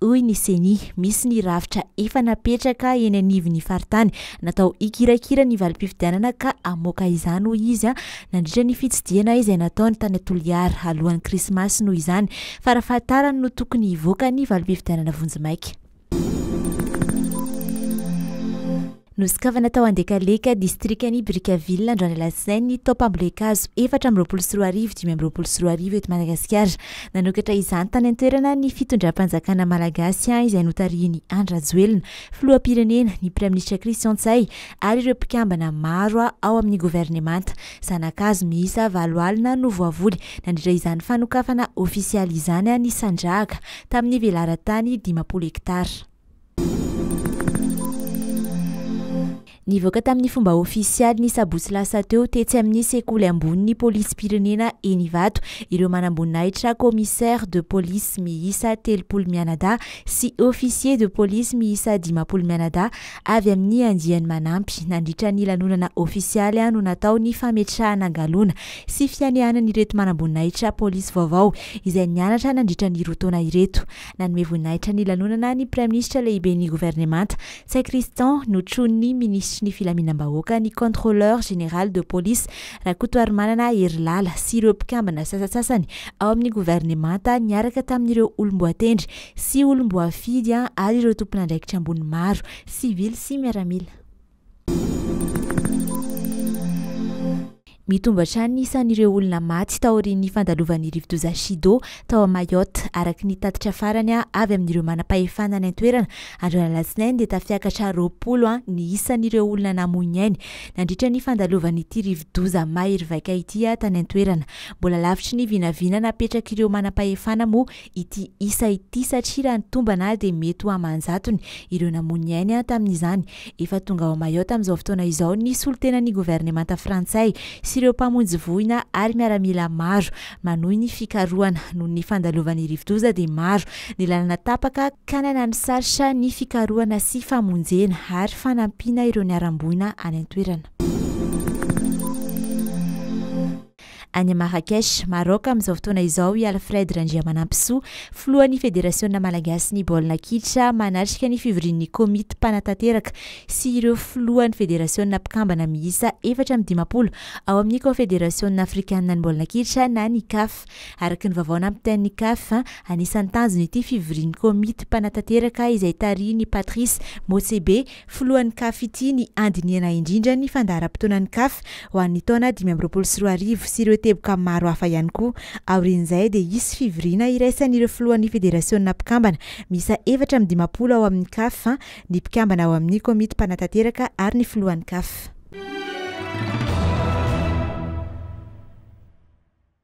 Hoy ny Ceni, misy ny rafitra efa napetraka eny anivon'ny faritany natao hikirakira ny valim-pifidianana ka hamoaka izany hoy izy nandritra ny fitsidihana izay nataony tany Toliara alohan'ny krismasy noho izany farafahatarany no tokony hivoaka ny valim-pifidianana vonjimaika. Nosokafana tao Andekaleka, distrikan'i Brickaville, androany alatsinainy, ny taom-pambolen-kazo efatra amby roapolo sy roa arivo dimy amby roapolo sy roa arivo eto Madagasikara. Nanokatra izany tany an-toerana ny fitondram-panjakana malagasy izay notarihin'i Andry Rajoelina, filoham-pirenena, ny praiminisitra Christian Ntsay ary ireo mpikambana maro ao amin'ny governemanta. Zana-kazo miisa valo alina no voavoly nandritra izany fanokafana ofisialy izany, nisandrahaka tamin'ny velaran-tany dimampolo hektara. Nivoaka tamin'ny fomba ofisialy ny sabotsy lasa teo tetsy amin'ny sekoly ambonin'ny polisim-pirenena eny Ivato ireo manamboninahitra commissaire de police miisa telopolo mianadahy sy officier de police miisa dimampolo mianadahy avy amin'ny andiany manampy. Nandritra ny lanonana ofisialy no natao ny fametrahana galona sy fianianan'ireto manamboninahitra polisy vaovao izay nianatra nandritra ny roa taona ireto. Nanome voninahitra ny lanonana ny Praiminisitra Lehiben'ny Governemanta, Ntsay Christian, notronin'ny Minisitry ny Filaminam-bahoaka, ny Contrôleur Général de Police, Rakotoarimanana Herilala, sy ireo mpikambana sasantsasany ao amin'ny Governemanta niaraka tamin'ireo olom-boatendry sy olom-boafidy ary ireo tompon'andraikitra ambony maro, sivily sy miaramila. Mitombo hatrany ny isan'ireo olona maty taorian'ny fandalovan'ny rivodoza Chido tao Mayotte, araka ny tatitra farany avy amin'ireo manam-pahefana any an-toerana. Androany Alatsinainy dia tafiakatra roapolo ny isan'ireo olona namoy ny ainy nandritra ny fandalovan'ity rivodoza mahery vaika ity tany an-toerana. Mbola lavitry ny vinavina napetrak'ireo manam-pahefana moa ity isa ity satria raha ny tombana ary dia mety ho aman-jatony ireo namoy ny ainy tamin'izany. Efa tonga ao Mayotte amin'izao fotoana izao ny solontenan'ny governemanta frantsay sy ireo mpamonjy voina ary miaramila maro manohy ny fikarohana. Noho ny fandalovan'ny rivodoza dia maro ny lalana tapaka ka nanano sarotra ny fikarohana sy famonjena ary fanampiana ireo niharam-boina any an-toerana. Any Marrakech, Maroc, amin'izao fotoana izao i Alfred Randriamanampisoa, filohan'ny Federasiona malagasin'ny baolina kitra, manatrika ny fivorian'ny komity mpanatanteraka sy ireo filohan'ny federasiona mpikambana miisa efatra amby dimampolo ao amin'ny Kaonfederasiona afrikanina ny baolina kitra na ny Caf. Araka ny vaovao nampitain'ny Caf, anisan'ny tanjon'ity fivorian'ny komity mpanatanteraka izay tarihin'i Patrice Motsepe, Filohan'ny Caf ity ny handinihana indrindra ny fandaharam-potoanan'ny Caf ho an'ny taona dimy amby roapolo sy roa arivo sy ireo teboka maro hafa ihany koa. Aorian'izay dia hisy fivoriana iraisan'ireo filohan'ny federasiona mpikambana miisa efatra amby dimampolo ao amin'ny Caf, ny mpikambana ao amin'ny komity mpanatanteraka ary ny filohan'ny Caf.